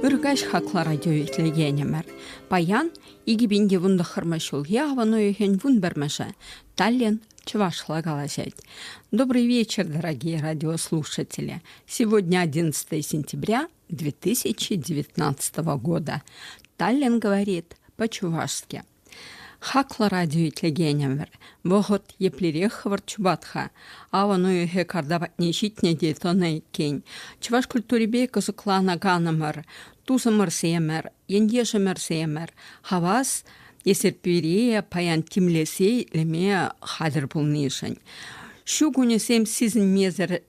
Ыр каҫ хаклӑ радио итлекенӗмӗр. Паян 2010 ҫулхи авӑн уйӑхӗн вун пӗрмӗшӗ. Таллин чӑвашла калаҫать. Добрый вечер, дорогие радиослушатели. Сегодня 11 сентября 2019 года. Таллин говорит по-чувашски. Хаклӑ радио итлекенӗмӗр, вӑхӑт еплерех хӑвӑрт чупать-ха. Авӑн уйӑхӗ карта патне ҫитнӗ те тӑнӑ иккен. Чӑваш культурипе кӑсӑкланаканӑмӑр, тусӑмӑрсемӗр, ентешӗмӗрсемӗр хавас Эсерпире паян тимлесе илме хатӗр пулнишӗн. Ҫу кунӗсем сисӗнмесӗр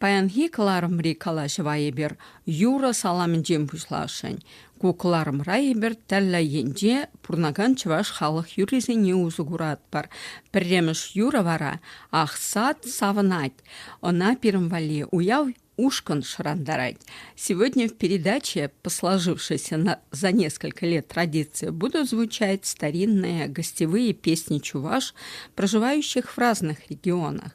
Паянхи кӑларӑмри калаҫӑва эпир юрӑ саламӗнчен пуҫласшӑн. Ку кӑларӑмра эпир тӗрлӗ енче пурӑнакан чӑваш халӑх юррисене усӑ куратпӑр. Пӗрремӗш юрӑ вара «Ахсат савӑнать». Ӑна пирӗн валли уяв ушкӑн шӑрантарать. Сегодня в передаче по сложившейся на, за несколько лет традиции будут звучать старинные гостевые песни чуваш, проживающих в разных регионах.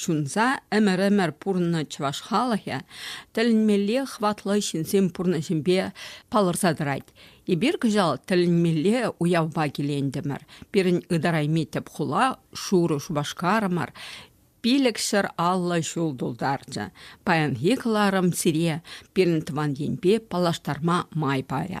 Ҫунса ӗмӗр-ӗмӗр пурӑннӑ чӑваш халӑхӗ тӗлӗнмелле хӑватлӑ ҫынсен пурнӑҫӗпе палӑрса тӑрать. Эпир кӑҫал тӗлӗнмелле уявпа килентӗмӗр. Пирӗн ытарайми тӗп хула Шурӑ Шупашкарӑмӑр пилӗкҫӗр аллӑ ҫул тултарчӗ. Паянхи кӑларӑм сире, пирӗн тӑван енпе паллаштарма май парӗ.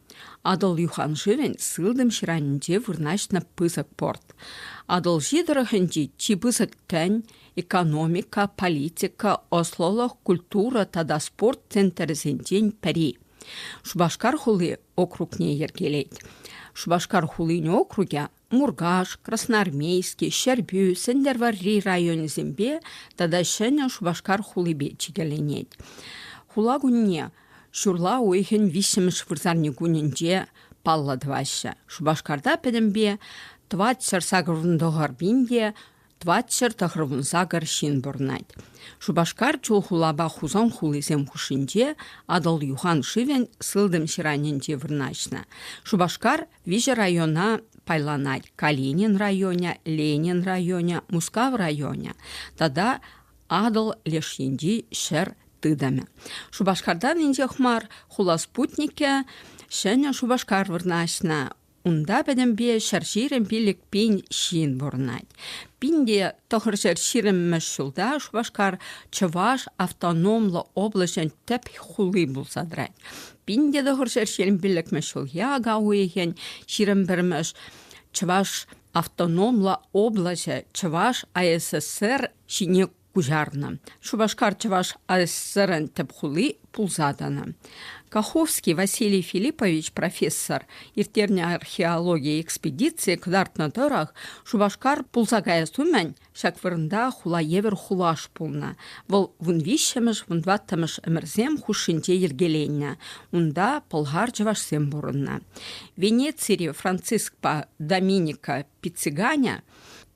Атӑл юханшывӗн сылтӑм ҫыранӗнче вырнаҫнӑ пысӑк порт. Атӑлҫи тӑрӑхӗнчи чи пысӑк тӗн, экономика, политика, ӑслӑлӑх, культура тата спорт центрӗсенчен пӗри. Шупашкар хули округне йӗркелет. Шупашкар хулин округӗ Муркаш, Красноармейски, Ҫӗрпӳ, Сӗнтӗрвӑрри районӗсемпе тата Ҫӗнӗ Шупашкар хулипе чикӗленет. Хула кунне ҫурла уйӑхӗн виҫҫӗмӗш вырсарни кунӗнче паллӑ тӑваҫҫӗ. Шупашкарта пӗтӗмпе тӑватҫӗр сакӑрӑн тӑхӑрпин те Тӑватҫӗр тӑхӑрвун сакӑр ҫын пурӑнать. Шупашкар чул хулапа Хусан хулисем хушшинче Атӑл юхан шывӗн сылтӑм ҫыранӗнче вырнаҫнӑ. Шупашкар виҫӗ района пайланать: Калинин районӗ, Ленин районӗ, Мускав районӗ тата Атӑл леш енчи ҫӗр тытӑмӗ. Шупашкартан инҫех мар хула спутникӗ Ҫӗнӗ Шупашкар вырнаҫнӑ. Унта пӗтӗмпе ҫӗр ҫирӗм пилӗк пин ҫын пурӑнать. Пин те тӑхӑр ҫӗр ҫирӗммӗш ҫулта Шупашкар Чӑваш автономлӑ облаҫӗн тӗп хули пулса тӑрать. Пин те тӑхӑр ҫӗр ҫирӗм пилӗкмӗш ҫул яга уйӑхӗн ҫирӗм пӗрмӗш Чӑваш автономлӑ облаҫӗ Чӑваш АССР ҫине куҫарнӑ. Шупашкар чӑваш АССРӑн тӗп хули пулса тӑнӑ. Каховский Василий Филиппович профессор ирттернӗ археологи экспедицийӗ кӑтартнӑ тӑрӑх Шупашкар пулса каяс умӗн ҫак вырӑнта хула евӗр хулаш пулнӑ. Вӑл вун виҫҫӗмӗш, вун тӑваттӑмӗш ӗмӗрсем хушшинче йӗркеленнӗ. Унта пӑлхар-чӑвашсем пурӑннӑ. Венецири Францискпа Доминика Пиццеганя –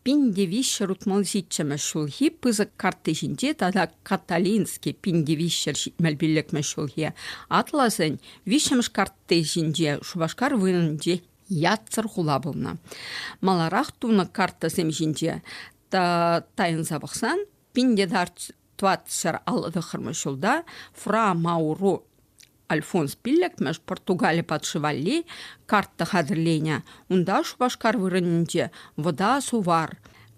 Пин тивиҫҫӗр утмӑл ҫиччӗмӗш ҫулхи пысӑк картти ҫинче тата Каталинский пин тивиҫҫӗр ҫитмӗл пиллӗкмӗш ҫулхи атласӗн виҫҫӗмӗш картти ҫинче Шупашкар вырӑнӗнче ятсӑр хула пулнӑ. Маларах тунӑ картасем ҫинче тайӑнса пӑхсан пин те тӑватсӑр аллӑ тӑххӑрмӗш ҫулта Фра Мауру Альфонс пиллӗкмӗш Португали патши валли карта хатӗрленӗ. Унта Шупашкар вырӑнӗнче Вӑта Сувар,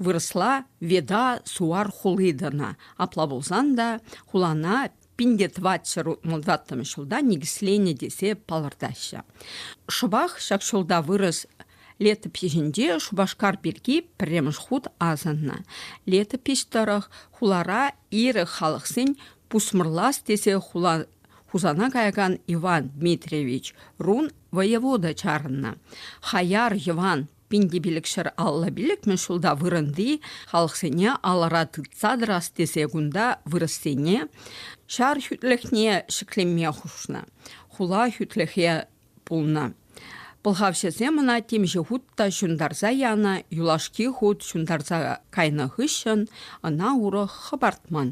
вырӑсла Веда Суар хули тӑнӑ. Апла пулсан та хулана 1520 ҫулта никӗсленӗ тесе палӑртаҫҫӗ. Шӑпах ҫак ҫулта вырӑс летопиҫӗнче Шупашкар пирки пӗрремӗш хут асӑннӑ. Летопиҫ тӑрӑх хулара ирӗк халӑхсен пусмӑрлас тесе хула Хусана каякан Иван Дмитриевич рун воевода чарӑннӑ. Хаяр Йӑван пин те пилӗк ҫӗр алла пилӗкмӗш ҫулта вырӑнти халӑхсене алӑра тытса тӑрас тесе кунта вырӑссене ҫар хӳтлӗхне ҫӗклеме хушнӑ. Хула хӳтлӗхе пулнӑ. Пӑлхавҫӑсем ӑна темиҫе хут та ҫунтарса янӑ, юлашки хут ҫунтарса кайнӑ хыҫҫӑн ӑна урӑх хӑпартман.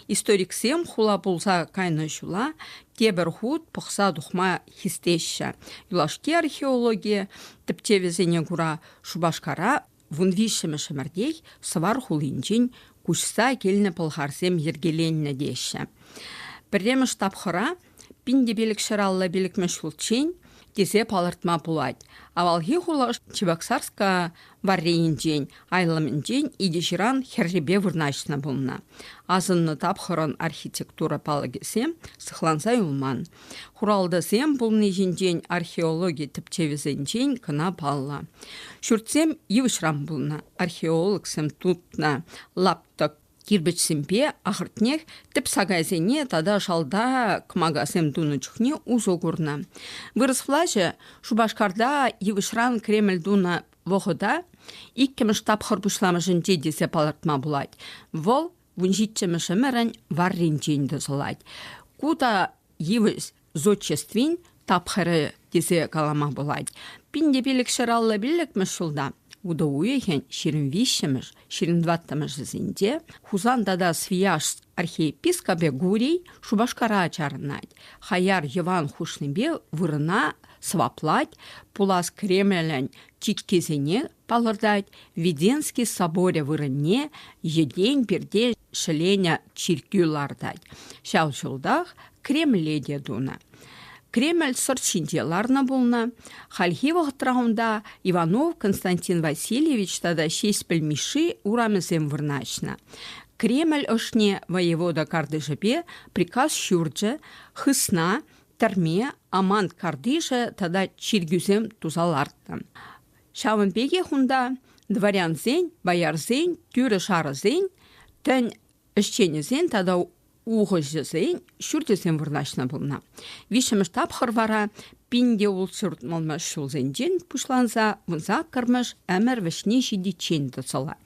Историксем хула пулса кайнӑ ҫула тепӗр хут пӑхса тухма хистеҫҫӗ. Юлашки археологи тӗпчевӗсене кура Шупашкара Вун виҫҫӗмӗш ӗмӗртех Сӑвар хулинчен куҫса килнӗ пӑлхарсем йӗркеленнӗ теҫҫӗ. Пӗрремӗш тапхӑра пин те пилӗк ҫӗр алла пилӗкмӗш ҫулччен тесе палӑртма пулать. Авалхи хула Чебоксарска варрийӗнчен, айлӑмӗнчен икӗ ҫыран хӗррипе вырнаҫнӑ пулнӑ. Асӑннӑ тапхӑрӑн архитектура палӑкӗсем сыхланса юлман. Хуралтӑсем пулни ҫинчен археологи тӗпчевӗсенчен кӑна паллӑ. Ҫуртсем йывӑҫран пулнӑ, археологсем тупнӑ лаптӑк кирпӗчсемпе ахӑртнех тӗп сакайсене тата шалта кӑмакасем тунӑ чухне усӑ курнӑ. Вырӑс влаҫӗ Шупашкарта йывӑҫран Кремль тунӑ вӑхӑта иккӗмӗш тапхӑр пуҫламӑшӗнче тесе палӑртма пулать. Вӑл вун ҫиччӗмӗш ӗмӗрӗн варринчен тӑсӑлать. Ку та йывӑҫ зодчествин тапхӑрӗ тесе калама пулать. Пин те пилӗк ҫӗр аллӑ пиллӗкмӗш ҫулта утӑ уйӑхӗн ҫирӗм виҫҫӗмӗш, ҫирӗм тӑваттӑмӗшӗсенче Хусан тата Свияжск архиепископӗ Гурий Шупашкара чарӑнать. Хаяр йӑван хушнипе вырӑна сӑваплать, пулас Кремлӗн чиккисене палӑртать, Веденский соборӗ вырӑнне йӗтен-пирте ҫӗленӗ чиркӳ лартать. Ҫав ҫултах Кремле те тунӑ. Кремль сӑрт ҫинче ларнӑ пулнӑ. Хальхи вӑхӑтра унта Иванов Константин Васильевич тата Ҫеҫпӗл Мишши урамӗсем вырнаҫнӑ. Кремль ӑшне воевода картишӗпе приказ ҫурчӗ, хысна, тӗрме, амант картишӗ тата чиркӳсем туса лартнӑ. Ҫавӑн пекех унта дворянсен, боярсен, тӳрӗ-шарӑсен, тӗн ӗҫченӗсен тата ухӑҫӑсен ҫурчӗсем вырнаҫнӑ пулнӑ. Виҫҫӗмӗш тапхӑр вара пинте ултҫурт мӑлмӑш ҫулсенчен пуҫланса вун саккӑрмӗш ӗмӗр вӗҫне ҫитиччен тӑсӑлать.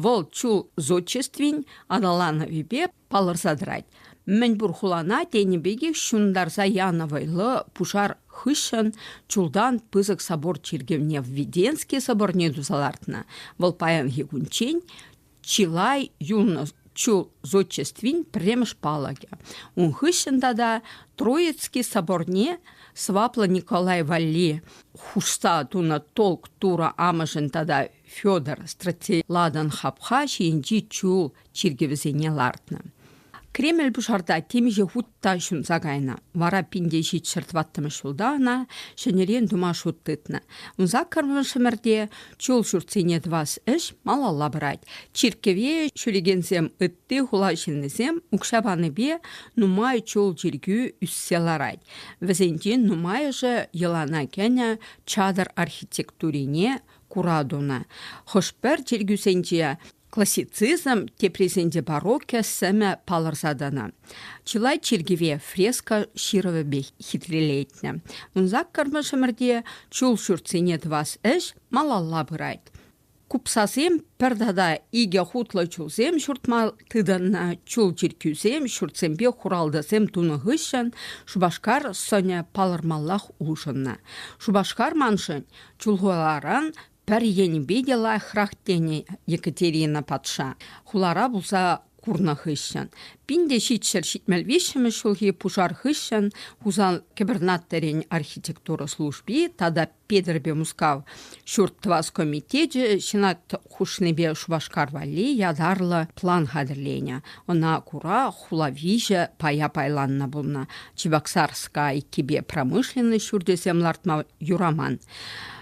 Вӑл чул зодчествин аталанӑвӗпе палӑрса тӑрать. Мӗнпур хулана тенӗ пекех ҫунтарса янӑ вӑйлӑ пушар хыҫҫӑн чултан пысӑк собор чиркӗвне Введенски соборне туса лартнӑ. Вӑл паянхи кунччен чылай юлнӑ чул зодчествин пӗрремӗш палӑкӗ. Ун хыҫҫӑн тата Троицки соборне сӑваплӑ Николай валли хушса тунӑ толк Тура амӑшӗн тата Федор Стратиладан хапха ҫийӗнчи чул чиркӗвӗсене лартнӑ. Кремль пушарта темиҫе хут та ҫунса кайнӑ. Вара пинте ҫичҫӗр тӑваттӑмӗш ҫулта ӑна ҫӗнӗрен тума шут тытнӑ. Ун саккӑрлӑ Шӗмӗрте чул ҫуртсене тӑвас ӗҫ малалла пырать. Чиркӗве ҫӳрекенсем ытти хула ҫыннисем укҫа панипе нумай чул чиркӳ ӳссе ларать. Вӗсенчен нумайӑшӗ йӑлана кӗнӗ чатӑр архитектурине кура тунӑ. Хӑш-пӗр чиркӳсенче Классицизм теприсенче барокко сӗмӗ палӑрса тӑнӑ. Чылай чиркӗве фреска ҫырӑвӗпе хитрелетнӗ. Ун саккӑрмӗшӗмӗрте чул ҫуртсене тӑвас ӗҫ малалла пырать. Купсасем пӗр тата икӗ хутлӑ чулсем ҫуртма тытӑннӑ. Чул чиркӳсем ҫуртсемпе хуралтӑсем тунӑ хыҫҫӑн Шупашкар сӑнӗ палӑрмаллах улшӑннӑ. Шупашкар маншӑн чулхуларан Пӗр енӗпе те лайӑхрах тенӗ Екатерина патша хулара пулса курнӑ хыҫҫӑн. Пин те ҫичҫӗр ҫитмӗл виҫҫӗмӗш ҫулхи пушар хыҫҫӑн Хусан кӗпӗрнаттӑрӗн архитектура служби тата Петӗрпе Мускав ҫурт тӑвас комитечӗ Сенат хушнипе Шупашкар валли ятарлӑ план хатӗрленӗ. Ӑна кура хула виҫӗ пая пайланнӑ пулнӑ. Чебоксарска иккипе промышленность ҫурчӗсем лартма юраман.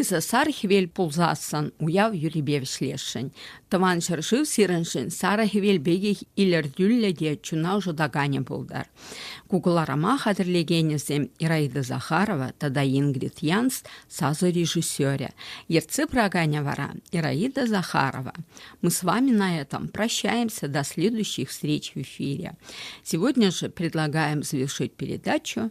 Эсӗ сар хӗвел пулсассӑн уяв юррипе вӗҫлесшӗн. Тӑван ҫӗршыв сирӗншӗн сарӑ хӗвел пекех илӗртӳллӗ те чуна ӑшӑтаканӗ пултӑр. Кукӑларӑма хатӗрлекенӗсем Ираида Захарова тата Ингрид Янс сасӑ режиссерӗ. Ертсе пыраканӗ вара Ираида Захарова. Мы с вами на этом прощаемся до следующих встреч в эфире. Сегодня же предлагаем завершить передачу